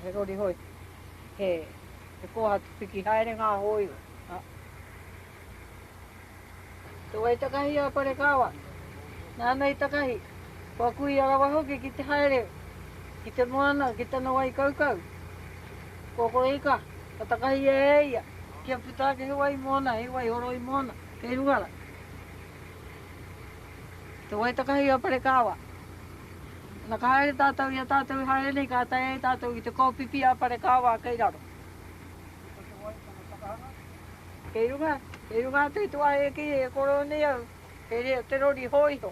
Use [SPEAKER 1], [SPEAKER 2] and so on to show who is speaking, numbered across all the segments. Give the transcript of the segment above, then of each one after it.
[SPEAKER 1] He rori hoi, he kohatu piki haere ngā hōiho. Te wai takahi a Parekāwā, nāna i takahi, kua kuia rawa hoki ki te haere ki te moana, ki tana wai kaukau. Kua kore ika, ka takahia e ia kia puta ake he wai moana, he wai horoi moana kei runga rā. Te wai takahi a Parekāwā. Na ka haere tatou i a tatou e haere nei, ka tae ai tatou i te kōpipi a Parekāwā kei raro. Ko te wai tana takahanga? Kei runga, kei runga atu i te wāhi e kī e kōrero nei au, kei reira te rori hōiho.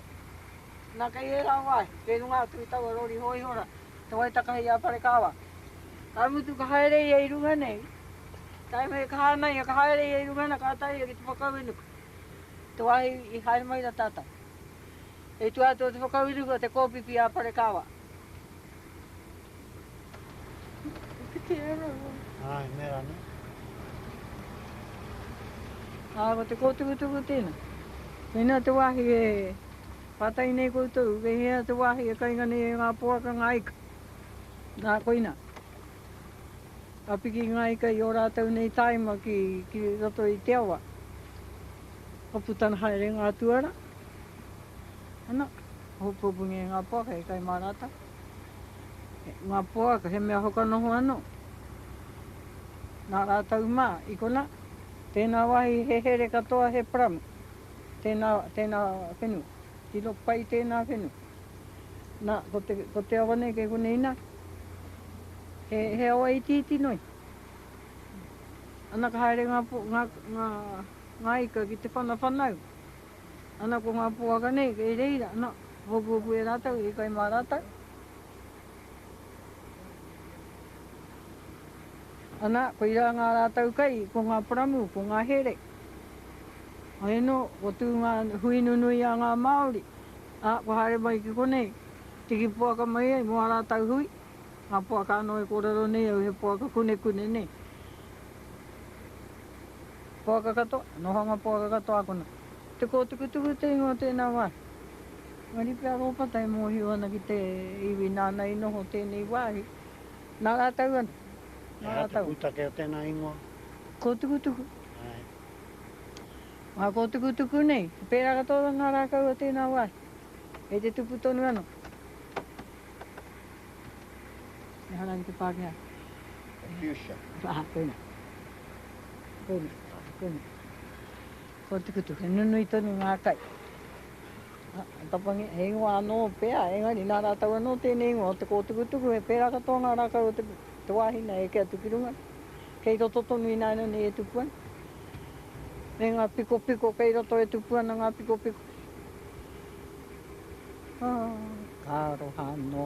[SPEAKER 1] Na kei ērā wāhi, kei runga atu i taua rori hōiho rā, te wai takahi a Parekāwā. Ka mutu ka haere ia i runga nei, tae me ka hānai ia ka haere ia i runga na ka tae ia ki te whakauenuku, te wāhi i haere mai rā tatou. I tua atu o te whakauruku o te kōpīpī a Parekāwā.
[SPEAKER 2] I kitea rawa. Āe, me rānei.
[SPEAKER 1] Ā, ko te kōtukutuku tēnā. Mēnā te wāhi e pātai nei koutou, me hea te wāhi e kainga nei e ngā poaka ngā ika? Nā, koinā. Ka piki ngā ika i ō rātou nei tāima ki roto i te awa. Ka putana haere ngā tuara. Ana, hopopuni e nga poaka e kai ma ratou. Nga poaka he mea whakanoho ano. Na ratou ma i kona tena wahi he here katoa he pramu. Tena tena whenu. Tino pai tena whenu. Na ko te ko te awa nei ke kone ina. He he awa iti iti noi. Ana ka haere nga nga nga ika ki te whana whanau. Ana ko ngā poaka nei kei reira ana, hopuhopu e rātou, i kai mā rātou. Ana, koirā ngā rātou kai, ko ngā paramu, ko ngā here. Hei anō, ko tū ngā hui nunui a ngā Māori, ā, kua haere mai ki konei, tiki poaka mai ai mō ā rātou hui, ngā poaka anō e kōrero nei au he poaka kunekune nei. Poaka katoa, nohanga poaka katoa ākona. Te kōtuku tuku te ingoa o tēnā wāhi. Engari pea Rōpata e mōhio ana ki te iwi nāna i noho tēnei wāhi, nā rātau anō, nā rātau. He aha te
[SPEAKER 2] pūtake o tēnā ingoa? Kōtuku tuku.
[SPEAKER 1] Āe. Ngā kōtuku tuku nei, he pērā katoa ngā rākau o tēnā wāhi, kei te tupu tonu anō. E hara ki te Pākehā.
[SPEAKER 2] Confucian. Aha, koina.
[SPEAKER 1] Koina, koina. Ko te kutu, he nunui tonu ngā kai. Ha, tapangi, he ingoa anō pea, engari nā rātau anō tēnei ingoa o te kōtukutuku, he pērā katoa ngā rākau o te, te wāhi nei eke atu ki runga. Kei roto tonu ināianei e tupu ana. Me ngā pikopiko kei roto e tupu ana ngā pikopiko. Oh, ka aroha anō.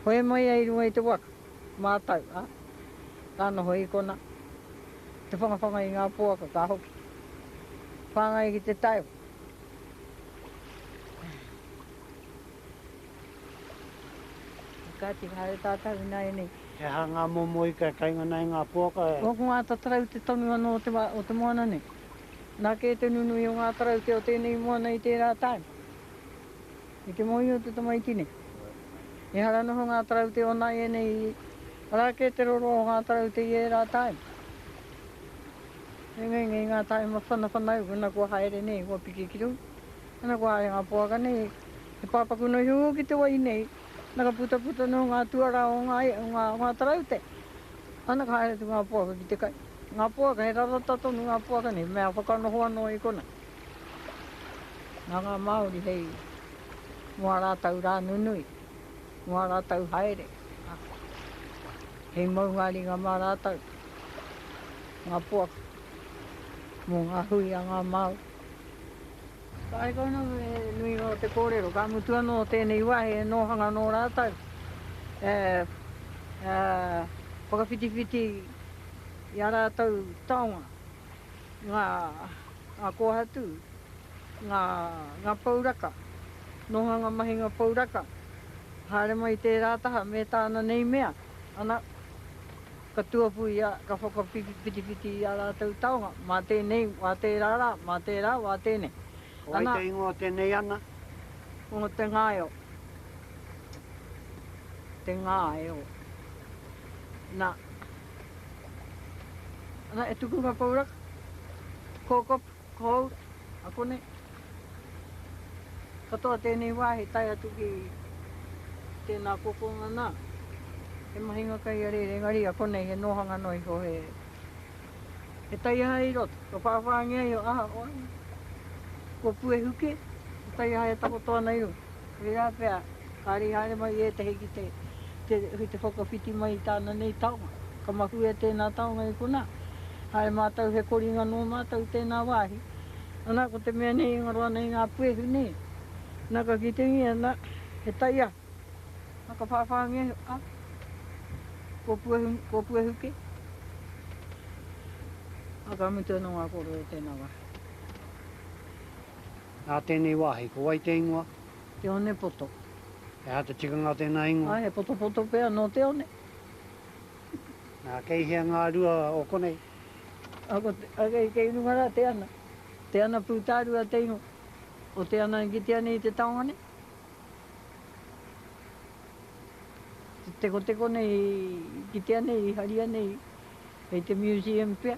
[SPEAKER 1] Hoe mai ai runga i te waka, mātau, ā, ka noho i konā. Te whangawhanga i ngā poaka ka hoki. Whāngai ki te taewa. Kāti ka haere tātau ināianei. He aha ngā momo
[SPEAKER 2] ika e kaingana ai ngā poaka? Ko ngā tatarau te
[SPEAKER 1] tonu anō o te moana nei. Nā kē te nunui o ngā karakia o tēnei moana i tērā tae. I te moe o te tamaiti nei, ehara noho ngā karakia o nāianei, arā kē te roroa o ngā karakia i ērā tae. He ngengei ngā tae ma whanawhanau, ana kua haere nei, kua piki ki runga, ana kua haere ngā poaka nei, he pāpaku noa iho ki te wai nei. Nā ka putaputa noa ngā tuarā o ngā, o ngā, o ngā taraute. Ana ka haere atu ngā poaka ki te kai. Ngā poaka, he rarata tonu ngā poaka nei, he mea whakanoho anō i konā. Nā ngā Māori hei, mō ā rātou rā nunui, mō ā rātou haere, ā, hei maunga ringa mā rātou, ngā poaka, mō ngā hui a ngā Māori. Kaiko ana me he nui noa te kōrero, ka mutu anō tēnei wā he nōhanga nō rātou e whakawhitiwhiti i ā rātou taonga, ngā kōhatu, ngā pouraka, nōhanga mahinga pouraka, haere mai tērā taha me tāna nei mea, ana. Ka tuapu ia, ka whakawhitiwhiti i ā rātou taonga, mā tēnei wā tērā rā, mā tērā wā tēnei. Ko wai te ingoa o
[SPEAKER 2] tēnei ana? Ko Te
[SPEAKER 1] Ngaio. Te Ngaio. Nā. Nā, e tuku ngā pouraka. Kōkopu. Ko au, a konei. Katoa tēnei wā he tae atu ki tēnā kokonga nā. He mahinga kai a rere, engari a konei he nōhanga noa iho, he, he taiaha i roto. Kua whāwhāngia iho, aha, oe, kua puehu kē, he taiaha e takoto ana i runga. Tērā pea, kāre i haere mai ētehi ki te, te, ki te whakawhiti mai i tāna nei taonga. Ka mahue tēnā taonga i konā. Haere mātou he koringa nō mātou i tēnā wāhi. Anā, ko te mea nei e ngaro ana i ngā puehu nei, nā ka kitengia, nā, he taiaha. Nā ka whāwhāngia iho, ā, kua puehu, kua puehu kē. Ā, ka mutu anō ngā kōrero i tēnā wāhi.
[SPEAKER 2] Nā tēnei wāhi, ko wai te ingoa? Te Onepoto.
[SPEAKER 1] He aha te
[SPEAKER 2] tikanga o tēnā ingoa? Ā, he potopoto pea
[SPEAKER 1] nō te one.
[SPEAKER 2] Nā, kei hea ngā rua o konei? Ā, ko te,
[SPEAKER 1] ā, kei, kei runga rā te ana. Te ana pūtārua te ingoa. Ko te ana i kitea nei i te taonga nei. Te tekoteko nei i kitea nei, i haria nei hei te museum pea.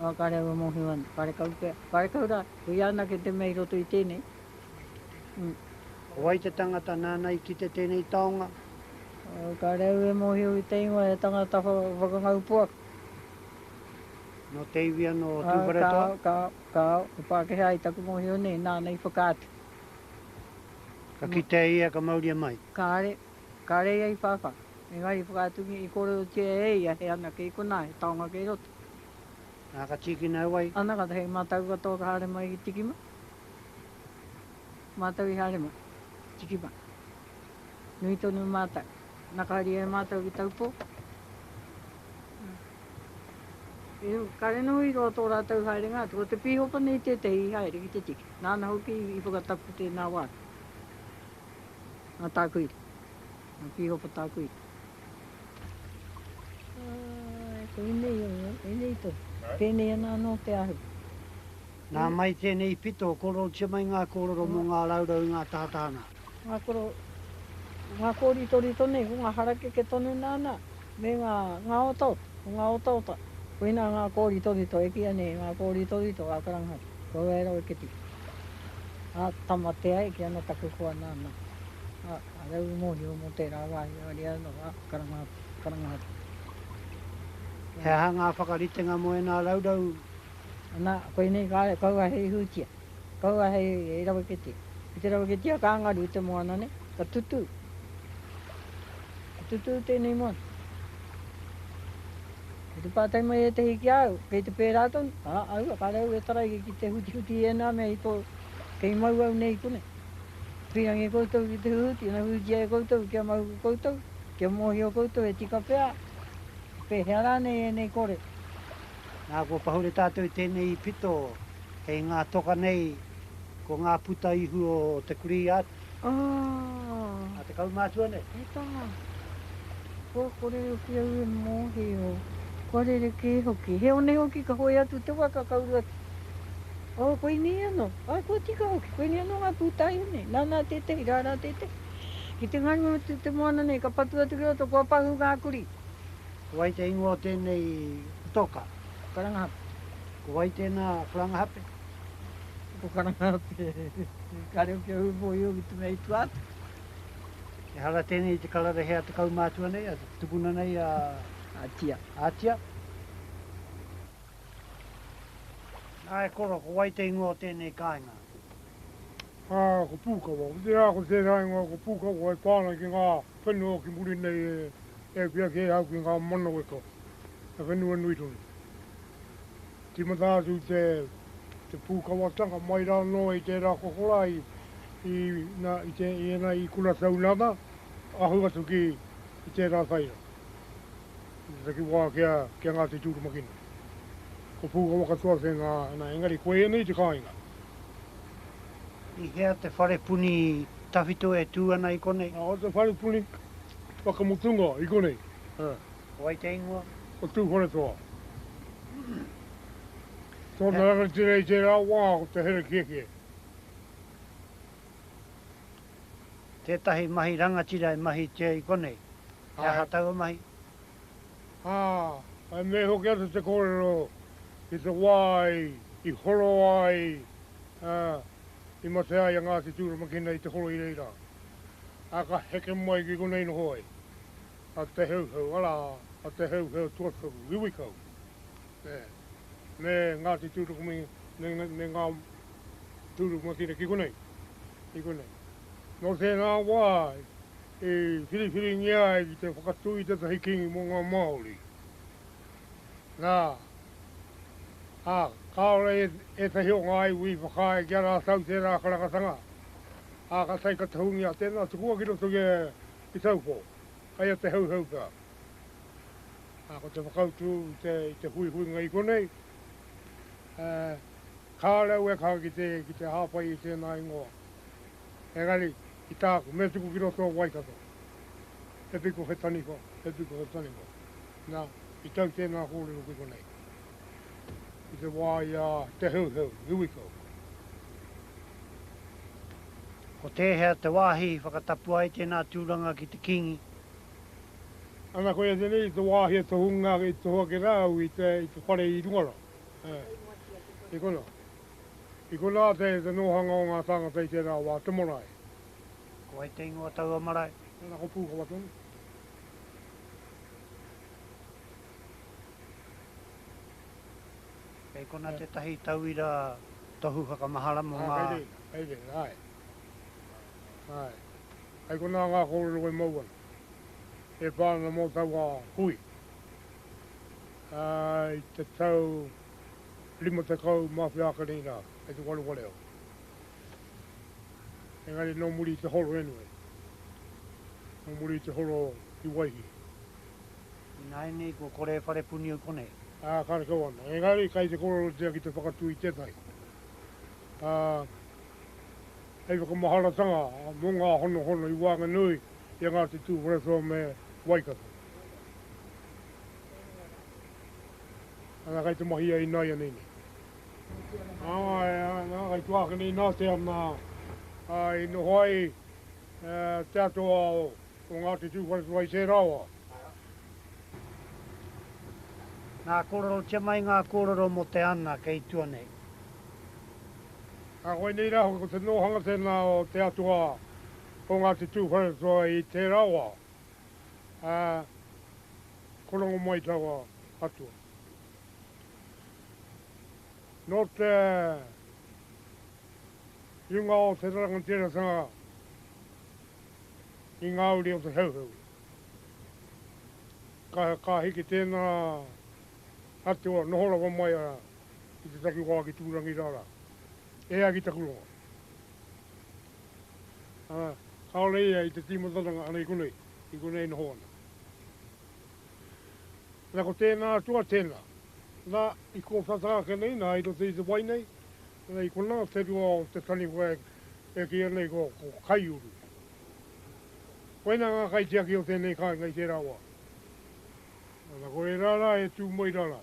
[SPEAKER 2] Ā, kāre au e mōhio
[SPEAKER 1] ana, kāre kau pea, kāre kau rā, hui anake te mea i roto i tēnei. Ū. Ko
[SPEAKER 2] wai te tangata nāna i kite tēnei taonga? Ā, kāre
[SPEAKER 1] au e mōhio i te ingoa, he tangata whakangau poaka.
[SPEAKER 2] Nō te iwi anō o Tūwharetoa? Ā, kāo, kāo, kāo, he
[SPEAKER 1] Pākehā i taku mōhio nei, nāna i whakaatu.
[SPEAKER 2] Ka kitea ia ka mauria mai? Kāre,
[SPEAKER 1] kāre ia i whāwhā, engari i whakaatungia, i kōrerotia e ia he anake i konā, he taonga kei roto. Nā, ka
[SPEAKER 2] tīkina au ai. Ana, kātahi hei mātau
[SPEAKER 1] katoa ka haere mai ki Tikima. Mātau i haere mai, Tikima. Nui tonu mātau. Nā, ka haeria e mātau ki Taupō. Ihu, kāre noho i roa tō rātau haerenga atu. Ko te pīhopa nei tētehi i haere ki te tiki. Nāna hoki i whakatapu tēnā wā atu. Nā Tākuiri. Nga piho pa taku i. Ae, koinei o nga, enei to. Penei ana ano te ahu. Na
[SPEAKER 2] mai tenei pito, kororotia mai nga kororo mo nga raurau i nga tahataha na. Nga koro,
[SPEAKER 1] nga koritorito nei, ko nga harakeke tonu nana, me nga, nga otaota, ko nga otaota. Koina nga koritorito, e kīia nei, nga koritorito a Karangahau, ko Roeroe Keti. A, tama te ai ki ana taku hoa nana. A. Ahau i mōhio mō tērā wāhi ariā nō ngā karanga karangahape.
[SPEAKER 2] He aha ngā whakaritenga mō ēnā raurau? Anā,
[SPEAKER 1] koinei kāre, kaua hei hūtia, kaua hei raweketia. Ki te raweketia ka ngaru te moana nei, ka tutū. Ka tutū tēnei moana. Ko te pātai mai ētehi ki a au, kei te pērā tonu? Ā, aua, kāre au e taraia ki te hutihuti i ēnā mea i tō, kei mau au nei i konei. Pīrangi koutou ki te hū, tino hūtia e koutou kia mau ko koutou, kia mōhio koutou e tika pea, pēhea rānei ēnei kore. Nā,
[SPEAKER 2] kua pahure tātou i tēnei pito kei ngā toka nei, ko ngā puta ihu o te kurī a. Oh. A te kaumātua nei. He tama.
[SPEAKER 1] Kua kōrero ki au e mōhio, kua rerekē hoki. He one hoki ka hoe atu te waka, ka uru atu. Oh, koinei anō. Ai, kua tika hoki, koinei anō ngā pūtaihu nei. Nānā tētehi, rārā tētehi. Ki te ngaunga atu te moana nei, ka patu atu ki roto, kua pahū ngā kurī. Ko wai te
[SPEAKER 2] ingoa o tēnei putoka? Ko Karangahape.
[SPEAKER 1] Ko wai
[SPEAKER 2] tēnā Karangahape?
[SPEAKER 1] Ko Karangahape. Ka reo ki a Ūpōhio ki te mea i tua atu.
[SPEAKER 2] Ehara tēnei i te karawehea te kaumātua nei, a tukuna nei a. Ātia.
[SPEAKER 1] Ātia.
[SPEAKER 2] Nā e koro, ko wai te ingoa o tēnei kāinga? Ā,
[SPEAKER 3] ko Pūkawa. Otirā, ko tērā ingoa ko Pūkawa e pā ana ki ngā whenua ki muri nei e hiahiatia kē au ki ngā manaweka, he whenua nui tonu. Tīmata atu i te Pūkawatanga mai rā noa i tērā kokorā i ēnei i Kura Taunata, ahu atu ki tērā taiao. Ki te taki wā ki a Ngāti Tūrumakina. Ko Pūkawa katoa te ngā ana engari ko ēnei te kāinga.
[SPEAKER 2] I hea te whare puni tawhito e tū ana i konei? Ko te whare puni
[SPEAKER 3] whakamutunga i konei. Ko wai te
[SPEAKER 2] ingoa? Ko Tūwharetoa.
[SPEAKER 3] Tōna rangatira i tērā wā ko Te Herekiekie.
[SPEAKER 2] Tētahi mahi rangatira e mahitia i konei. He aha taua mahi?
[SPEAKER 3] Ā, e mea hoki ana te kōrero, i te wā i horo ai, ā, i mate ai a Ngāti Tūramakina i te horo i reira, ā, ka heke mai ki konei noho ai a Te Heuheu, arā, a Te Heuheu tuatoru, iwikau. me Ngāti Tūrukumi, me ngā tūrukuma kina ki konei, ki konei. Nō tēnā wā i whiriwhiringia ai ki te whakatū i tētahi kīngi mō ngā Māori. Nā, ā, kāore ētahi o ngā iwi i whakaae kia rātau tērā karakatanga, ā, ka tae ka tohungia tēnā tukua ki roto i a Taupō, kai a Te Hauhau pea. Ā, ko te whakautu i te, i te huihuinga i konei, ā, kāore au e kaha ki te, ki te hāpai i tēnā ingoa. Engari, ki tāku, me tuku ki roto o Waikato. He piko, he taniwha, he piko, he taniwha. Nā, i tau tēnā kōrero ki konei. I te wā i a Te Heuheu, Iwikau.
[SPEAKER 2] Ko tēhea te wāhi i whakatapua ai tēnā tūranga ki te Kīngi?
[SPEAKER 3] Ana koia tenei i te wahi e tohunga e tohu ake ra au i te i te whare i runga ra. I kona. I kona te te nohanga o nga tangata i tera wa te marae. Ko wai
[SPEAKER 2] te ingoa taua marae? Tena ko Pukawa tonu. Kei kona tetahi tauira tohu whakamahala mo nga. Kei re, kei re, ae.
[SPEAKER 3] Āe. Hei konā ngā kōrero e mau ana, e pā ana mō taua hui. Ā, i te tau 50 mā wheāka nei rā, kei te wareware au. Engari nō muri i te horo anyway, nō muri i te horo ki Waihi.
[SPEAKER 2] Ināianei kua kore e wharepuni au konei. Ā, karekau ana.
[SPEAKER 3] Engari kei te kōrerotia ki te whakatū i tētahi. Ā, hei whakamaharatanga mō ngā honohono i waenganui i a Ngāti Tūwharetoa me Waikato. Ana kai te mahi ia inaianei nei. Ana kai tuāke nei nā te ana i noho ai te atua o Ngāti Tūwharetoa i tērā wā.
[SPEAKER 2] Nā, kōrerotia mai ngā kōrero mō te ana kei tua nei. Ā,
[SPEAKER 3] koinei rā hoki ko te nōhanga tēnā o te atua o Ngāti Tūwharetoa i tērā wā, ā, ko Rongomaitaua atua. Nō te runga o te rangatiratanga i ngā uri o te Heuheu, ka, ka hiki tēnā. atua noho rawa mai a ki te takiwā ki Tūrangi rā rā. E ai ki taku rongo. Ā, kāore ia i te tīmataranga ana i konei, i konei e noho ana. Na ko tēnā atua tēnā. Na, i kōwhata ake nei, na, i roto i te wai nei, na, i konā te rua o te taniwha e, e kīia nei ko, ko Kaiuru. Koina ngā kaitiaki o tēnei kāinga i tērā wā. Ana ko e rara e tu mai rara.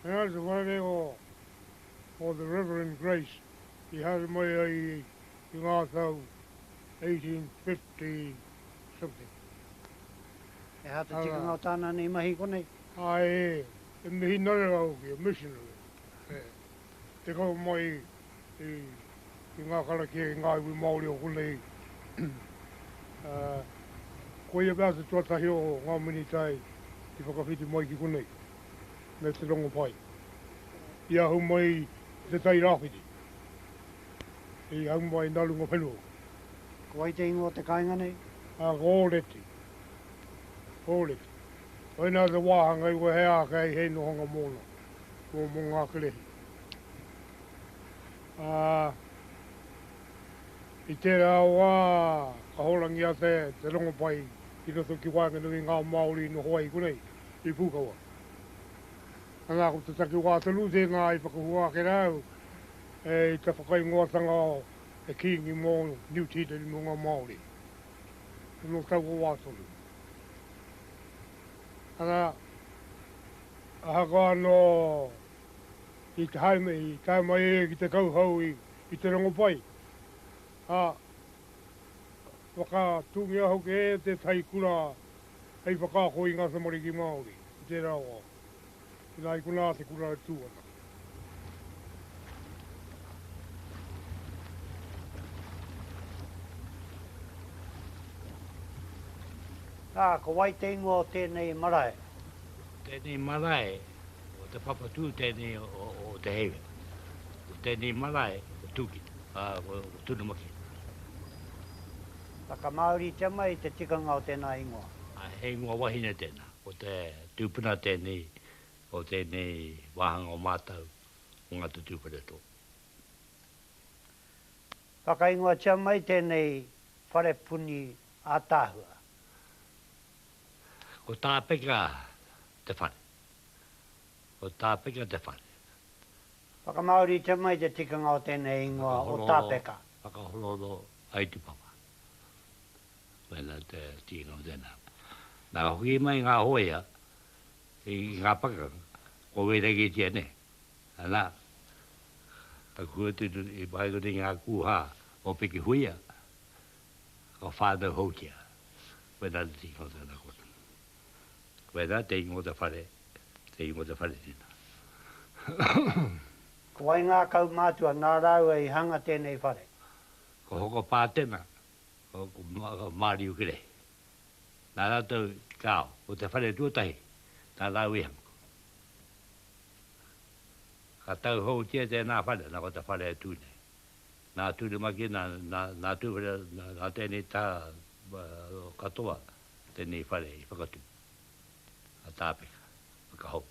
[SPEAKER 3] And ana te whare o o the Reverend Grace i haere mai ai i nga tau 1850 something.
[SPEAKER 2] He aha te tikanga o tana nei mahi konei? A e,
[SPEAKER 3] e mihinare au ki a missionary. te kau mai i ngā karakia, i ngā iwi Māori o konei. Koia pea te tuatahi o ngā minita i whakawhiti mai ki konei, me te rongopai. I ahu mai i Te Tai Rāwhiti, i ahu mai nā runga whenua. Ko wai
[SPEAKER 2] te ingoa o te kāinga nei? Ko Ōreti.
[SPEAKER 3] Ōreti. Koinā te wāhanga i wahe ākei hei nohonga mōna. ko mō ngā kerehi. Ā, i tērā wā ka hōrangi ake te rongopai i roto ki waenganui i ngā Māori i noho ai konei i Pūkawa. Ana ko te takiwā tonu tēnā i whakahua ake rā au i te whakaingoatanga o te Kīngi mō Niu Tīreni mō ngā Māori. Nō taua wā tonu. Ana, Ahakoa anō i tae mai e ia ki te kauhau i te rongopai, ā, whakatūngia hoki e tētahi kura hei whakaako i ngā tamariki Māori i tērā wā, inā i konā te kura e tū ana.
[SPEAKER 2] Ā, ko wai te ingoa o tēnei marae? Tēnei
[SPEAKER 4] marae o Te Papatū tēnei o Te Heiwe. Ko tēnei marae ko Tūkino, ā, ko Tunumaki. Whakamāoritia
[SPEAKER 2] mai te tikanga o tēnā ingoa. He ingoa wahine
[SPEAKER 4] tēnā, ko te tūpuna tēnei o tēnei wāhanga o mātau o ngā tutū whareato.
[SPEAKER 2] Whakaingoatia mai tēnei wharepuni ātaahua.
[SPEAKER 4] Ko Tāpeka te whare. Ko Tāpeka te whare.
[SPEAKER 2] Whakamāoritia mai te tikanga o tēnei ingoa o Tāpeka. Whakahorohoro
[SPEAKER 4] ai tupapa. Wēnā te tikanga o tēnā. Nā ka hoki mai ngā hōia I ngā pakanga, kua wērangitia nei, ana, ka kuatunu i waenganui i ngā kūhā o Piki Huia, o Whānau Houtia, koinā te tino tana kona. Koinā te ingoa o te whare, te ingoa o te whare tina. Ko wai
[SPEAKER 2] ngā kaumātua nā rāua i hanga tēnei whare? Ko
[SPEAKER 4] Hokopātena, ko Māriukere. Nā rātou te kāo, ko te whare tuatahi, nā Rā Wehamuku. Ka tauhoutia tēnā whare, nā ko te whare e tū nei. Nā Turumaki, nā, nā, nā Tūwhera, nā, nā tēnei tā katoa, tēnei whare i whakatū. A Tāpeka, whakahou.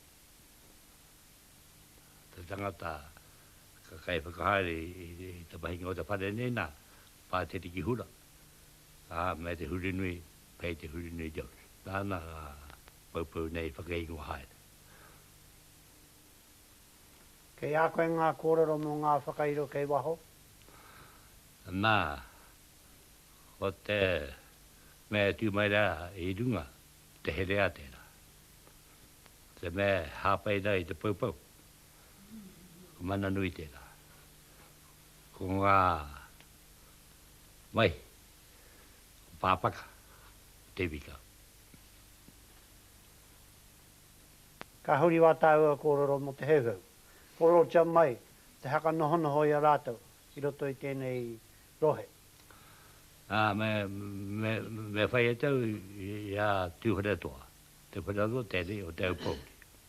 [SPEAKER 4] Te tangata ka kai whakahaere i te mahinga o te whare nei, nā, Pā te riki hura, ā, me te huri nui, kei te huri nui Jones. Tāna ngā poupou nei whakaingoa haere.
[SPEAKER 2] Kei a koe ngā kōrero mō ngā whakairo kei waho?
[SPEAKER 4] Nā, ko te mea e tū mai rā i runga, te herea tērā. Te mea e hāpai rā i te poupou, Ko mana nui tērā. Ko ngā mai, ko pāpaka, ko te iwi kau.
[SPEAKER 2] Ka huri wā tāua kōrero mō te Heuheu. Kōrerotia mai te haka nohonoho i a rātou i roto i tēnei rohe. Ā, me,
[SPEAKER 4] me, me whai e tau i a Tūwharetoa. Te whare anō tēnei o Te Aupōuri.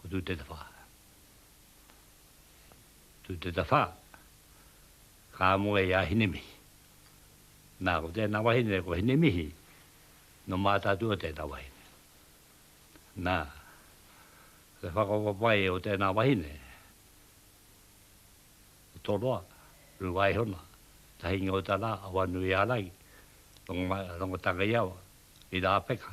[SPEAKER 4] Ko tū te tawhā. Tū te tawhā. Kā mua i a Hinemihi. Nā, ko tēnā wahine, ko Hinemihi, no Mātātua tēnā wahine. Nā, te whakapapai o tēnā wahine, o Toroa, Ruaihona, Tahinga o Tara, Awanui Arai, Rongo Tangaiawa, i Rāpeka.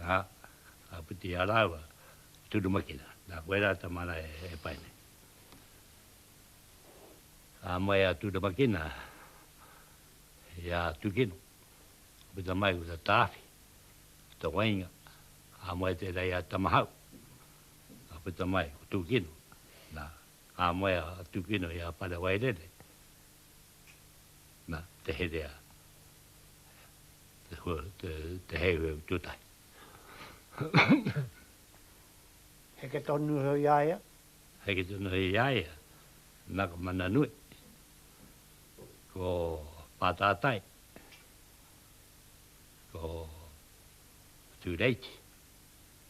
[SPEAKER 4] Nā, ka whiti a rāua i Turumakina, nā koe rā te mana e pai nei. Ka moe a Turumakina i a Tukino, ka puta mai ko Tawhi, ko Tawainga, ka moe tērā i a Tamahau, ka puta mai ko Tukino, nā, ka moe a Tukino i a Parewairere, Na, te herea, te hua, te, te heuheu tuatahi.
[SPEAKER 2] Heke tonu hoi i a ia? Heke tonu
[SPEAKER 4] hoi i a ia, na ka mana nui. Ko Pātātai, ko Tūreiti.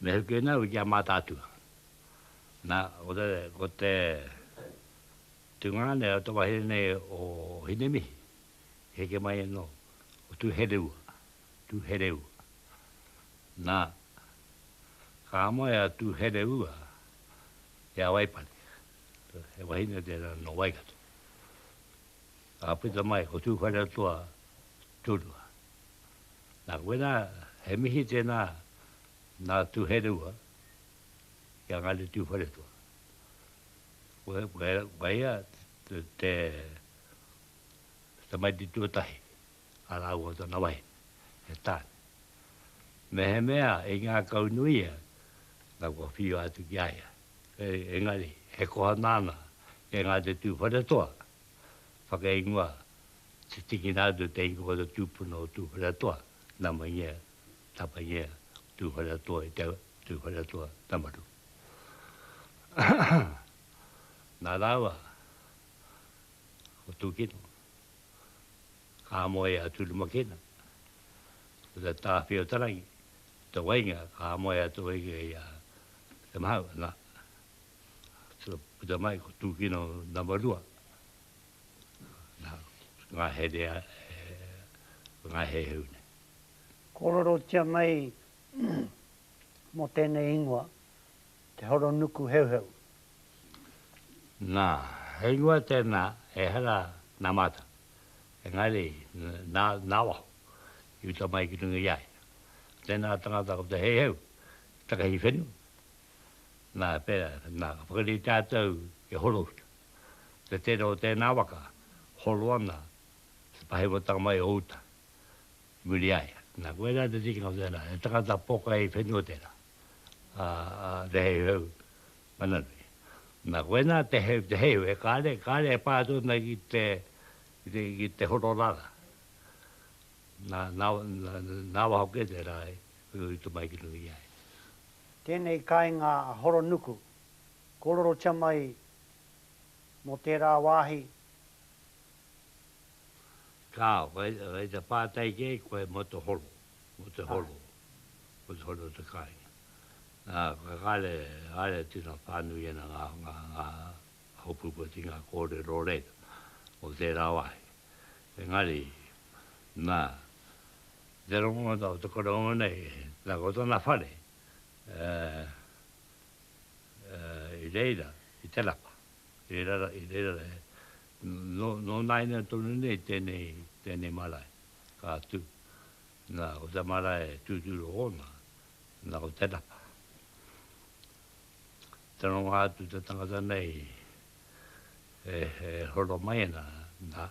[SPEAKER 4] Me hoki ana ki a Mātaatua. Na, ko te, ko te tungāne o te wahine nei o Hinemihi, i heke mai anō, ko Tūhereua, Tūhereua. Na, ka moe a Tūhereua ki a Waipare. He wahine tērā nō Waikato. Ka puta mai ko Tūwharetoa Turua. Nā koinā, he mihi tēnā nā Tuhereua ki a Ngāti Tūwharetoa. Koe ia te tamaiti tuatahi a rāua tana wahine, e Tāne. Mehemea i ngākaunui ia, nā kua whiua atu ki a ia. Engari, he koha nāna e Ngāti Tūwharetoa. whakaingoa te tikina atu te ingoa tūpuna o Tūwharetoa, Namaingia, Tapaingia, Tūwharetoa i te Tūwharetoa Tamaru. Nā rāua ko Tūkino, ka moe a Turumakina, ko te Tāwhiotarahi, te wainga ka moe atu i a Te Mahau, nā. Tuna puta mai ko tūkino nama rua. Nā, ngā here, ngā heuheu nei. Kōrerotia
[SPEAKER 2] mai mō tēnei ingoa, te horonuku heuheu. Nā,
[SPEAKER 4] he ingoa tēnā, ehara nā mātou. Engari, nā, nā waho, i uta mai ki runga i a ia. Tēnā tangata ko te heuheu, takahi whenua, Nā, pērā, nā, ka whakarite tātou e Horouta. Te tere o tēnā waka, horo ana te pahewatanga mai o uta i muri i a ia. Nā, koirā te tikanga o tērā, he tangata pokai whenua tērā, a, a Te Heuheu Mananui. Nā, koinā te heu, te heu, e kāre, kāre e pā atu ana ki te, ki te, ki te horo rara. Nā, nā, nā, nā waho kē tērā e, i roto mai ki runga i a ia. Tēnei
[SPEAKER 2] kāinga a Horonuku, kōrorotia mai mō tērā wāhi.
[SPEAKER 4] Ka, whai te pātai kē koe mō te horo, mō te horo, mō te horo o te kāinga. Nā, ka haere, haere tino whānui ana ngā, ngā, ngā hopupoti, ngā kōrero reira o tērā wāhi. Engari, nā, Te rongonga o te koroua nei, na ko tona whare i reira i te rapa, i reira e, no naina tonu nei tenei, tenei marae ka tu, na ko te marae tuturu ona, na ko te rapa. Te rongonga atu te tangata nei e horo mai ana, na.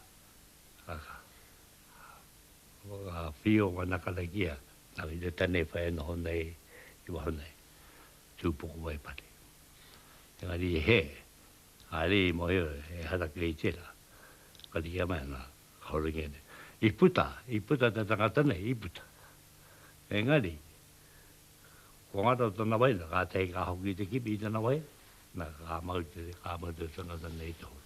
[SPEAKER 4] whakawhio wanaka nei ki a. Tawhiritane whai e noho nei i waho nei, Tūpoko wai pare. Engari i hē, haere i mohio ehara kei tērā. Ka rīkia mai ana, ka horingia nei. I puta, i puta te tangata nei, i puta. Engari, ko ngaro tana waina, ka tahi ka hoki i te kimi i tana waina, na, ka mau te, ka mau te tangata nei i te horo.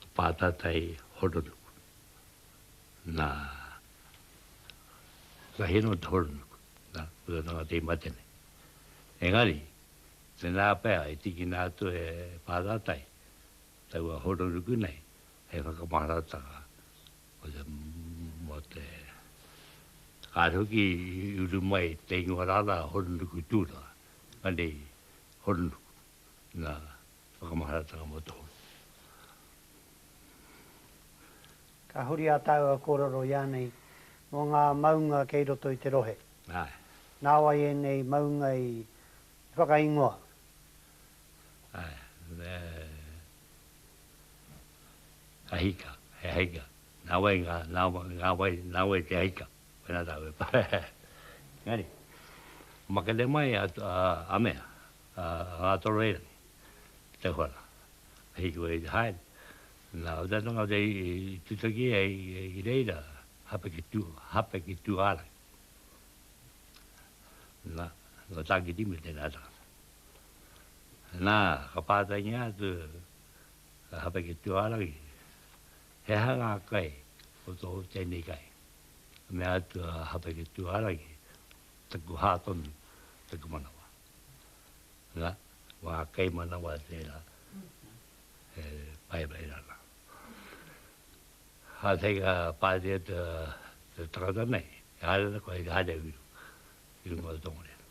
[SPEAKER 4] Ka pātata e Horonuku. Nā, ka hino atu Horonuku, nā, ko te tangata i mate nei. Engari, tēnā pea i tikina atu e Pātata i taua Horonuku nei hei whakamaharatanga mō te, mō te, kāre hoki i uru mai te ingoa rānā Horonuku Tūranga, engari Horonuku, nā. Whakamaharatanga mō te horo.
[SPEAKER 2] Ka huri a tāua kōrero ianei mō ngā maunga kei roto i te rohe. Āe.
[SPEAKER 4] Nāwai
[SPEAKER 2] ēnei maunga i whakaingoa.
[SPEAKER 4] Āe, me a hika, he hika. Nāwai ngā, ngā wai, nāwai te hika. Pēnā tāua e pā. Engari, makete mai a, a, a mea, a nga toro e te whana he ki wei te haere na uta tanga uta i tutaki e i reira hape ki tu hape ki tu ara na no tangi di me tena ta na ka pata ngi atu hape ki tu ara ki he hanga kai o to teni kai me atu hape ki tu ara ki te kuha tonu te kumanawa na, wa kei manawa tera e pai mai rana. Ha te ka pare e te te tangata nei, e hare na koe i te hare uru, i runga o Tongariro.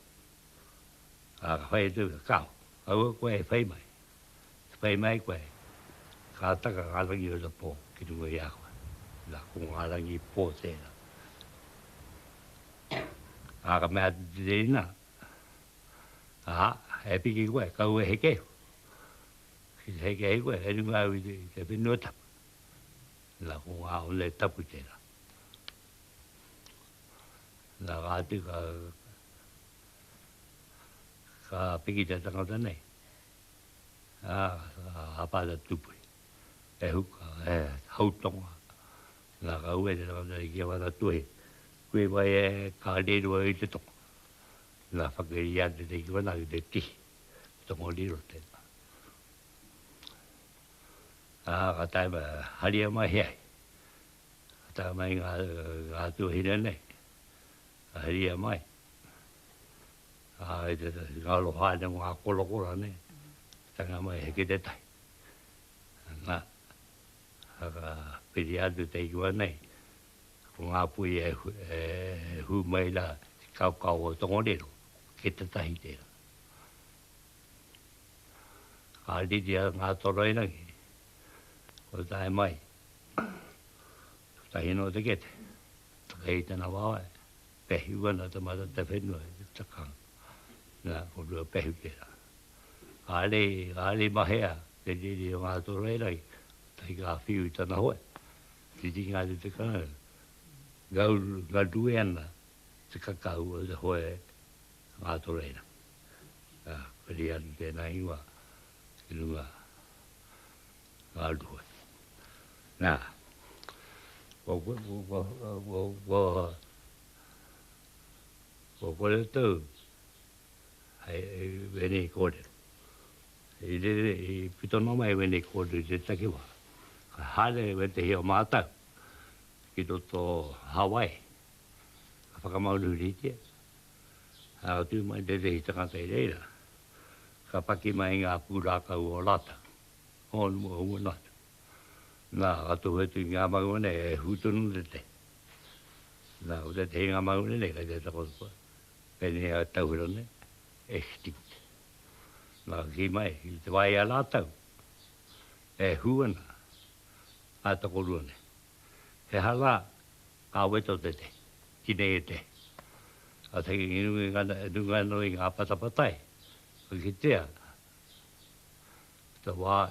[SPEAKER 4] A ka whai atu, kau, aua koe e whai mai, e whai mai koe, ka taka nga rangi o te po ki runga i a koe. Na, ko nga rangi po tera. A ka mea atu te reina, Ā, e piki koe, kaua e heke iho. Ki te heke ai koe, e runga au i te, i te whenua tapu. Nā, ko ngā one tapu tērā. Nā, kāti ka, ka piki te tangata nei. Ā, ka hapa te tupui. E huka, e hautonga. Nā, ka hua te tangata nei ki a Whānatuahi, koe mai e, ka riro au i te toko. Nā, whakairi a tēnei ki wāna ki te tihi, te toko riro tēnā. Ā, ka tae mai, haria mai he ai. Ka tae mai ngā, ngā tuahine nei, ka haria mai. Ā, i te, ngā aloha nei, ngā korokora nei, tanga mai he ki te tahi. Nā. Ka piri atu te ingoa nei, ko ngā puhi e hū mai ana i te kaokao o Tongariro, kei te tahi tērā. Ka riri a Ngātoroirangi, kua tae mai, kotahi nō te kete, takahī tana wawe. Pehu ana te marata whenua i te takanga. Na, ko Ruapehu tera. Are, are mahea te riri o nga Toroerangi, tai ka whiu i tana hoe. Titinga atu te karauna, ngau, ngarue ana te kakahu o te hoe a nga Toroerangi. Na, riri atu tena ingoa. i runga ngā ruhoi. Nā, kua koe, kua, kua, kua, kua, kua kore tau, hei, hei, wenei kōrero. I rere, i pito nō mai wenei kōrero i te takiwa. Ka hāre we te hia mātau, ki roto Hawaii. Ka whakamaunuhiritia, Ā, tū mai tētehi tangata i reira, ka paki mai ngā pūrākau o rātou, hōnu mō ua nātu. Nā, ka tohu atu i ngā maunga nei, e hū tonu ana te. Nā, ko tētehi ngā maunga nei, kei te takoto, pēnei a tauwhera nei, extinct. Nā, ka kī mai, i te wā i a rātou, e hū ana ngā tokorua nei. He aha la nga weto te te, ki nei e te. A te ngi nunga i ngana, e nunga no i nga patapatai, ka kitea ta wa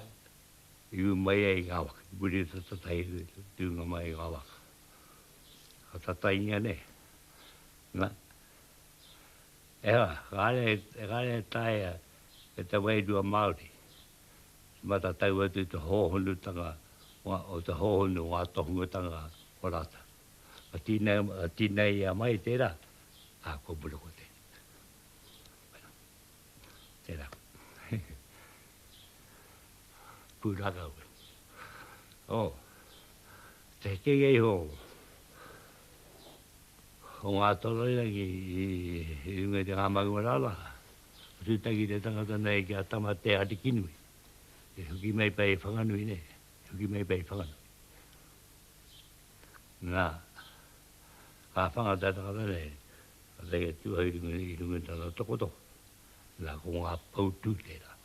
[SPEAKER 4] i u mai ai nga waka, i muri ta tatai i nunga mai i nga waka. Ka tatai ngia nei. Na, e ha, ka ale, ka ale taia e te wairua Maori, He matatau atu te hōhonutanga o te hōhonu o ngā tohungatanga o rātou. Ka tīneia mai tērā, ā, kua mura kō tēnei. Tērā. Pūrākau. Ō, te hekenga iho o ngā toroirangi i runga i te ngā maunga rānā, Ka tūtaki te tangata nei ki a Tama Te Arikinui, e hoki mai pai i Whanganui nei, e hoki mai pai i Whanganui. Nā, ka whanga te tangata nei, ka taia tū ai runga i runga tana tokotoko. Nā, ko ngā poutū tērā,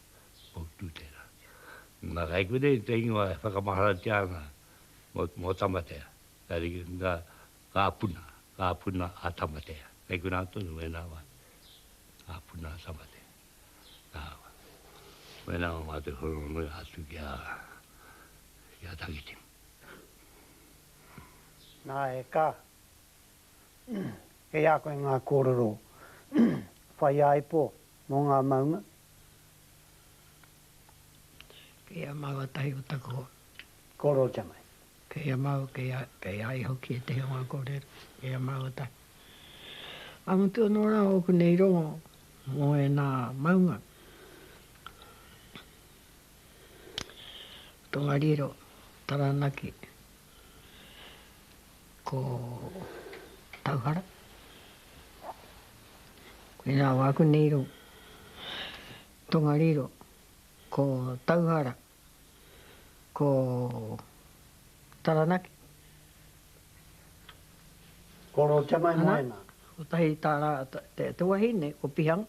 [SPEAKER 4] poutū tērā. Nā, kai kore te ingoa e whakamaharatia ana mō, mō Tamatea. Tari, nā, Ngā puna, ngā puna a Tamatea. Kei konā tonu wēnā wā, ngā puna a Tamatea. Nā, wēnā wā mā te wharonui atu ki a, ki a Takitimu.
[SPEAKER 2] Nā, e kā, kei a koe ngā kōrero whaiāipo mō ngā maunga.
[SPEAKER 1] Kei a māu a tahi o taku hoa. Korotanga.
[SPEAKER 2] Kei a māu,
[SPEAKER 1] kei a, kei a ia hoki e te hunga kōrero. Kei a māu a tahi. Ka mutu anō rā ōku nei rongo mō ēnā maunga Tongariro, Taranaki, ko Tauhara. Koinā wāku nei rongo. Tongariro, ko Tauhara, ko Taranaki.
[SPEAKER 2] Ko Rotemaimoena. Kotahi ta ra,
[SPEAKER 1] te wahine o Pihanga.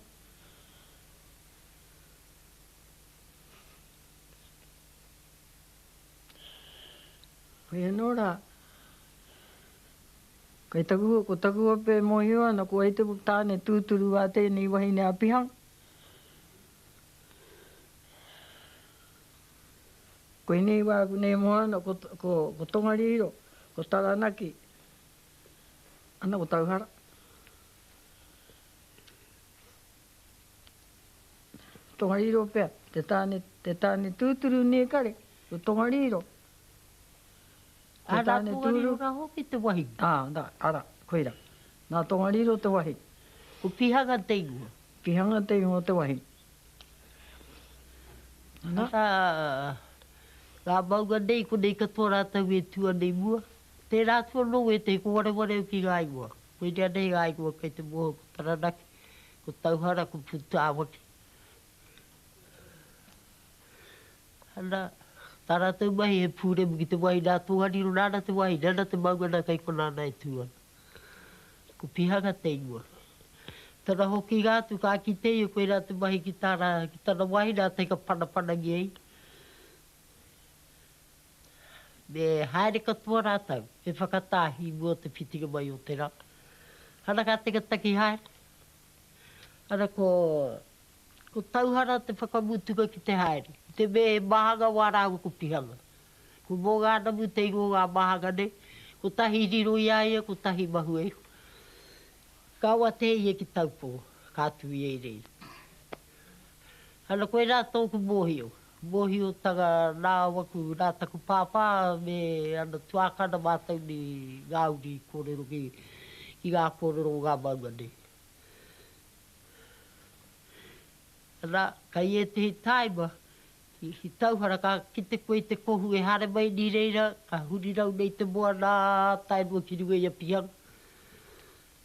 [SPEAKER 1] Hoi ano ra, kai taku, ko taku ope e mohio ana, ko wai taku tane tuturu wa tenei wahine a Pihanga? Koinei wā, konei moana, ko, ko, ko Tongariro, ko Taranaki, ana ko Tauhara. Tongariro pea, te tāne, te tāne tūturu nē kare, ko Tongariro.
[SPEAKER 5] Ara, Tongariro rā hoki te wahine. Ā, nā, ara,
[SPEAKER 1] koira. Nā Tongariro te wahi. Ko Pihanga
[SPEAKER 5] te ingoa. Pihanga te ingoa
[SPEAKER 1] te wahi.
[SPEAKER 5] Ana. Ā, ngā maunga nei, konei katoa rātou e tū ana i mua. Tērā atu anō wētehi, ko wareware au ki ngā ingoa. Koinea nei ngā ingoa kei te moho, ko Taranaki, ko Tauhara, ko Pūtāwaki. Ana, tā rātou mahi he pūremu ki te wahi, nā Tongariro nāna te wahi, nana te maunga nā kei konā nā e tū ana. Ko Pihanga te ingoa. Tana hokinga atu ka kite ia koirā te mahi ki tāna, ki tana wāhine a Teikapanapanagia i. Me haere katoa rātou he whakatāhi mō te whitinga mai o te rā. Ana ka taketake haere. Ana ko, ko Tauhara te whakamutunga ki te haere. Ki te mea he maha ngawā rāua ko Pihanga. Ko Mōgānamu te iro o ngā wāhanga nei, kotahi riro i a ia, kotahi mahue iho. Kaua te hei ia ki Taupō, ka tū ia i reira. Ana koirā tōku mōhio, mōhiotanga nā waku, nā taku pāpā me ana tuākana mātou nei ngā uri i kōrero ki ngā kōrero o ngā maunga nei. Ana, kai ētehi tāima, I tauhara ka kite koe i te kohu e hare mai ni reira ka hurirau nei te moana taenua ki runga i a Pihanga.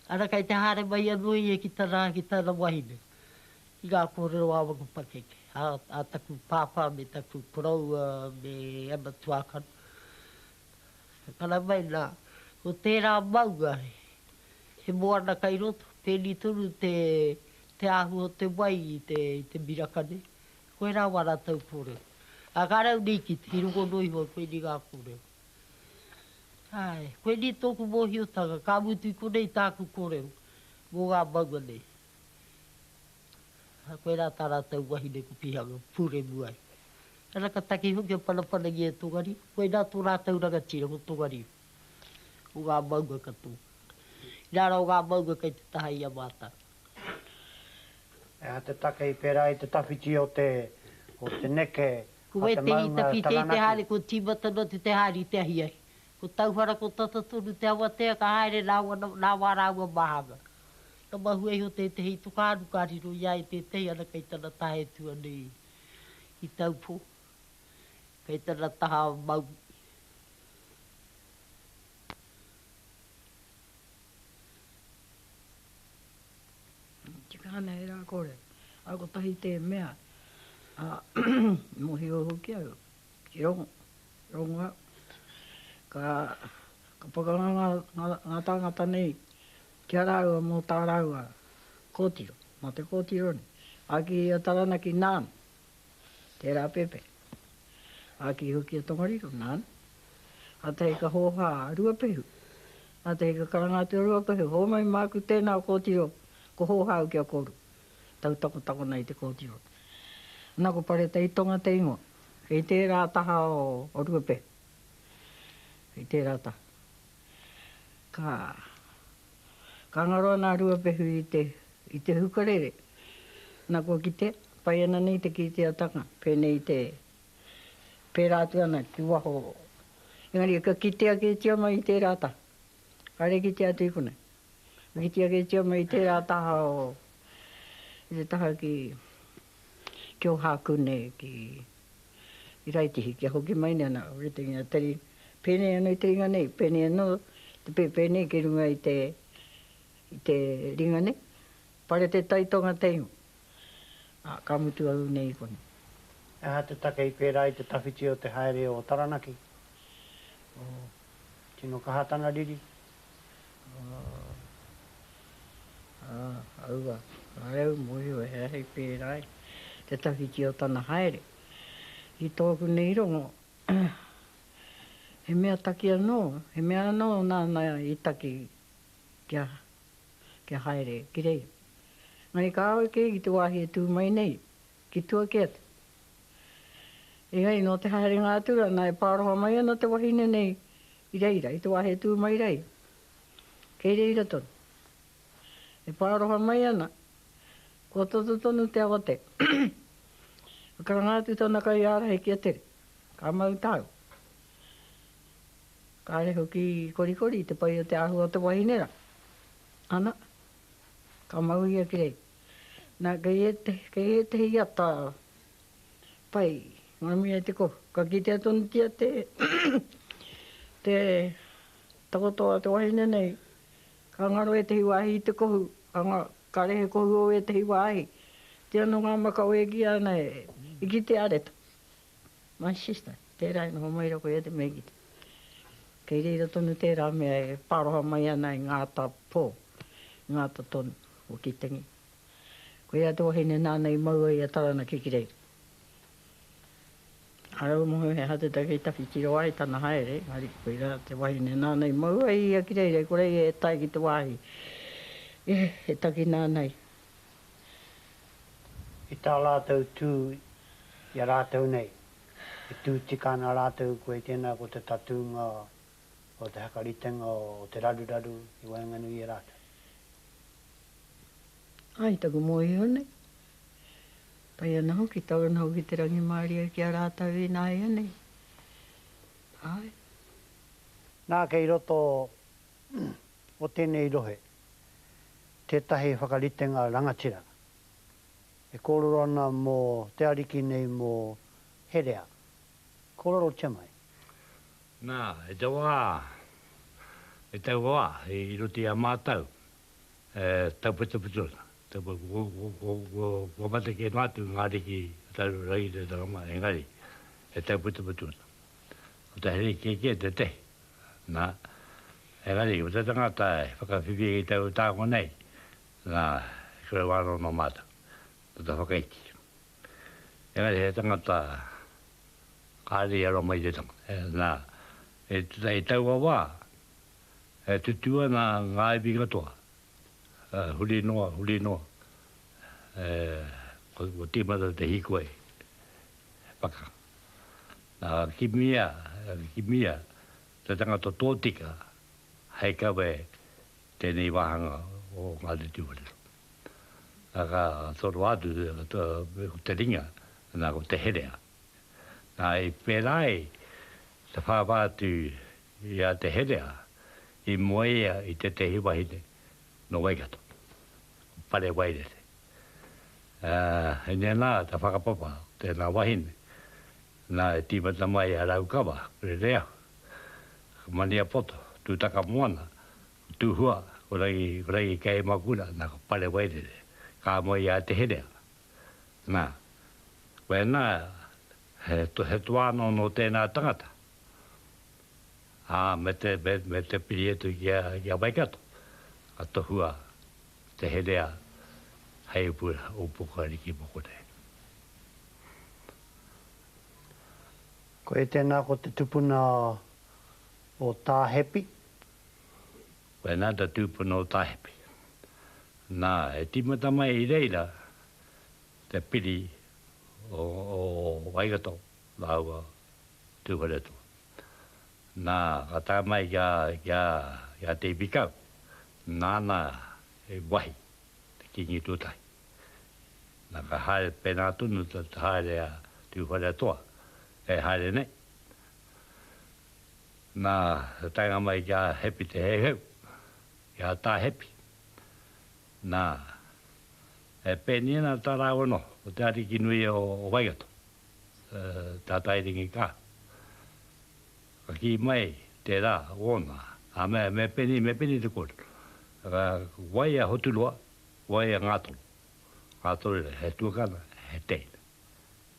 [SPEAKER 5] Ara kei te hare mai ano ia ki tana ki tana wahine ki nga korero a waku pakeke a taku papa me taku koroua me ana tuakana. Takara mai na ko tera maunga he moana kei roto, peni tonu te ahu o te wai i te miraka nei. Koe rā wā rātou pore. A ka rau nei ki te, i rongo noa iho koe nei ngā kōrero. Ae, koe nei tōku mōhiotanga, ka mutu i konei tāku kōrero mō ngā maunga nei. A koe rā tā rātou wahine ko Pihanga, pūremu ai. Ana ka taki hoki a Panapanagia e Tongariro, koe nā tō rātou rangatira ko Tongariro, o ngā maunga katoa. Inā rā o ngā maunga kei te taha i a mātou. He
[SPEAKER 2] aha te take i pērā i te tawhiti o te, o te neke a te maunga Taranaki? Ko
[SPEAKER 5] Wētene i tawhiti ai te haere, ko Tīmatana te te haere i te ahiahi. Ko Tauwhara, ko Tata tonu te awatea ka haere rāua nā, nāwā rāua mā hanga. Ka mahue iho tētehi i Tukaaru ka riro i a ia tētehi ana kei tana taha e tua nei i, i Taupō, kei tana taha a Maui.
[SPEAKER 1] Tika ana e rā kore, a kotahi te mea, a mohio hoki au ki rongo, rongo au. Ka, ka pakanga nga, nga, nga tangata nei ki a raua mo tā raua kotiro, mo te kotiro nei. Aki a Taranaki nāna. Tērā Pepe. Āki hoki a Tongariro, nāna. Kātahi ka hōhā a Ruapehu. Kātahi ka karanga atu a Ruapehu, Hōmai māku tēnā kōtiro, ko hōhā au ki a kōrua. Tau takotako nei te kōtiro. Nā ko Pareta i tonga te ingoa. Kei tērā taha o Ruapehu. Kei tērā taha. Ka, ka ngaro ana a Ruapehu i te, i te hukarere. Na kua kitea, pai ana nei te kīteatanga, pēnei te, pērā atu ana ki waho. Engari ka kitea kētia mai i tērā taha. Kāre kitea atu i konei. Ka kitea kētia mai i tērā taha o, i te taha ki. Ki Ohāku nei, ki Iraitihi, kia hoki mai nei ana ritenga tari, pēnei anō i te ringa nei, pēnei anō te pēpē nei ki runga i te, i te ringa nei. Pare te tai tō ngā teina, ā, ka mutu au nei i konei. He aha te
[SPEAKER 2] take i pērā i te tawhiti o te haere o Taranaki? Tino kaha tana riri,
[SPEAKER 1] Aua, ae au mohio he ahi pērā i te tawhiti o tana haere. I tōku nei rongo, he mea taki anō, he mea anō nāna i taki kia, kia haere ki reira. Engari kāore kē ki te wāhi e tū mai nei, Ki tua kē atu. Engari nō te haerenga atu rā, nā e pāroha mai ana te wahine nei i reira, i te wā he tū mai rā ia. Kei reira tonu. E pāroha mai ana, kua toto tonu te awa te. Ka karanga atu tana kaiārahi ki a Tere, Ka mau tāu. Kāre hoki i korikori i te pai o te āhua o te wahine rā. Ana, ka mau ia ki reira. Nā, kei ētehi, kei ētehi ata pai, ngā mihi a te kohu, ka kitea tonutia te, te takoto a te wahine nei, ka ngaro ētehi wāhi i te kohu, ka nga, ka rehe kohu o ētehi wāhi. Tē anō ngā maka o Egia ana e, i kitea reta. My sister, tērā e noho mai rā koe i a Te Meikiti. Kei reira tonu tērā mea e paroha mai ana i ngā ata pō, i ngā ata tonu. o Kitangi. Ko ia te wahine nāna i mau ai a Taranaki ki reira. Ka rau noa he hatataka i tawhitiro ai tana haere, engari koirā te wahine nāna i mau ai ia ki reira, i kore ia e tae ki te wāhi e takina ana ia.
[SPEAKER 2] I tā rātou tū i a rātou nei, e tū tika ana rātou koe tēnā ko te tatūnga. o te whakaritenga o te raruraru i waenganui i a rātou.
[SPEAKER 1] Ai taku mōhio nei, pai ana hoki, tau ana hoki te rangimārie ki a rātou ināianei. Āe.
[SPEAKER 2] Nā, kei roto o tēnei rohe tētahi whakaritenga rangatira e kōrero ana mō te Ariki nei mō herea, Kōrero Te Mai. Nā,
[SPEAKER 4] i te wā, i taua wā, i roto i a mātou e tauwhitowhito ana. Kua mate kē noa atu ngā ariki o tātou Rangitatanga mā, engari e tauwhitowhito ana. Ko te haere kē kē tētehi, nā, engari ko te tangata e whakawhiwhia ki taua tānga nei, nā, e korero ana nō mātou, nō te whakaiti. engari he tangata kāre i aro mai i te tangata. Nā, i taua wā, e tutū ana ngā iwi katoa, huri noa, huri noa, ko tīmata te hīkoi he pakanga. Nā, kimia, kimia te tangata tōtika hei kawe tēnei wāhanga o Ngāti Tūwharetoa. Nā, ka toroa atu ko te ringa, nā, ko te herea. Nā, i pērā ai te whāwhā atu i a te herea, i moe ia i tētehi wahine nō Waikato, ko Pare Wairere. Ā, i nēnā te whakapapa o tēnā wahine, nā, i tīmata mai a Raukawa, Rereahu, Maniapoto, Tūtakamoana, Tuhua, ko Rangi, ko Rangi kei Makura, na, ko Pare Wairere, ka moe i a Te Herea. Na, koena, he, he toa ano no tena tangata. A, me te, me, me te piri atu ki a, ki a Waikato, ka tohua Te Herea hei upu, upu kariki moko nei.
[SPEAKER 2] Koe tena ko te tupuna o Tahepi,
[SPEAKER 4] Ko ēnā te tūpuna o Tāhepi. Nā, e tīmata mai i reira te piri o, o Waikato rāua Tūwharetoa. Nā, ka tae mai ki a, ki a, ki a Te Ipikau, nāna i wahi te kīngi tuatahi. Nā, ka haere pēnā tonu te haere a Tūwharetoa, e haere nei. Nā, he taenga mai ki a Hepi Te Heuheu, ki a Tā Hepi. Nā, e pēniina tā rāua noho, ko te ariki nui o Waikato, tā Tairingi Ka. Ka kī mai tērā, ōna, ā, me, me pēni, me pēni te kōrero. Ā, wai a Hoturoa, wai a Ngātoro. Ngātoro nei, he tuakana, he teina.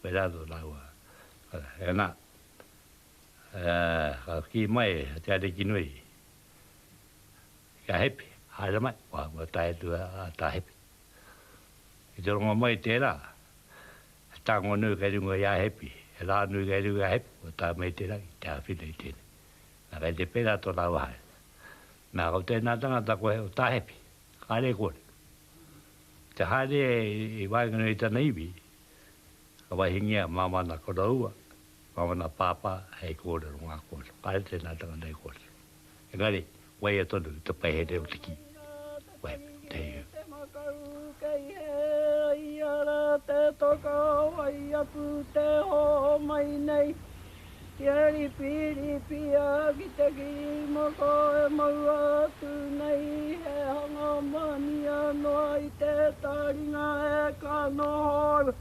[SPEAKER 4] Pērā nō rāua, ā, e nā. Ā, ka kī mai a te Ariki nui, Kia hepi, haere mai, kua tae atu a Tāhepi. Ki te rongo mai i tērā, he tango nui kei runga i a Hepi, he rā nui kei runga i a Hepi, kua tae mai i tērā ki te āwhina i tēnei. Nā, kei te pērā tō rāua haere. Nā, ko tēnā tangata koe o Tāhepi, kāre e kore. Ki te haere i waenganui i tana iwi, ka waihingia māmā nā koroua, Mā ōna pāpā hei kōrero ngā kōrero, kāre tēnā tangata e kōrero. Engari, waia tonu te paehere o te kī, waia pea, te hei hau. Te makau kei hea
[SPEAKER 1] ia rā te toka wai aku te hōmai nei kia ripiripia ki te kī moko e maua atu nei he hanga mania noa i te taringa e ka noho ana.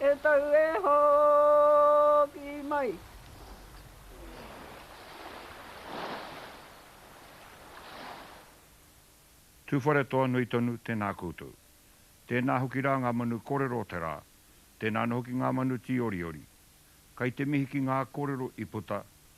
[SPEAKER 1] E tau e hoki mai.
[SPEAKER 6] Tuwharetoa nui tonu, tēnā koutou. Tēnā hoki rā ngā manu kōrero o te rā, tēnā ana hoki ngā manu tīoriori. Kai te mihi ki ngā kōrero i puta,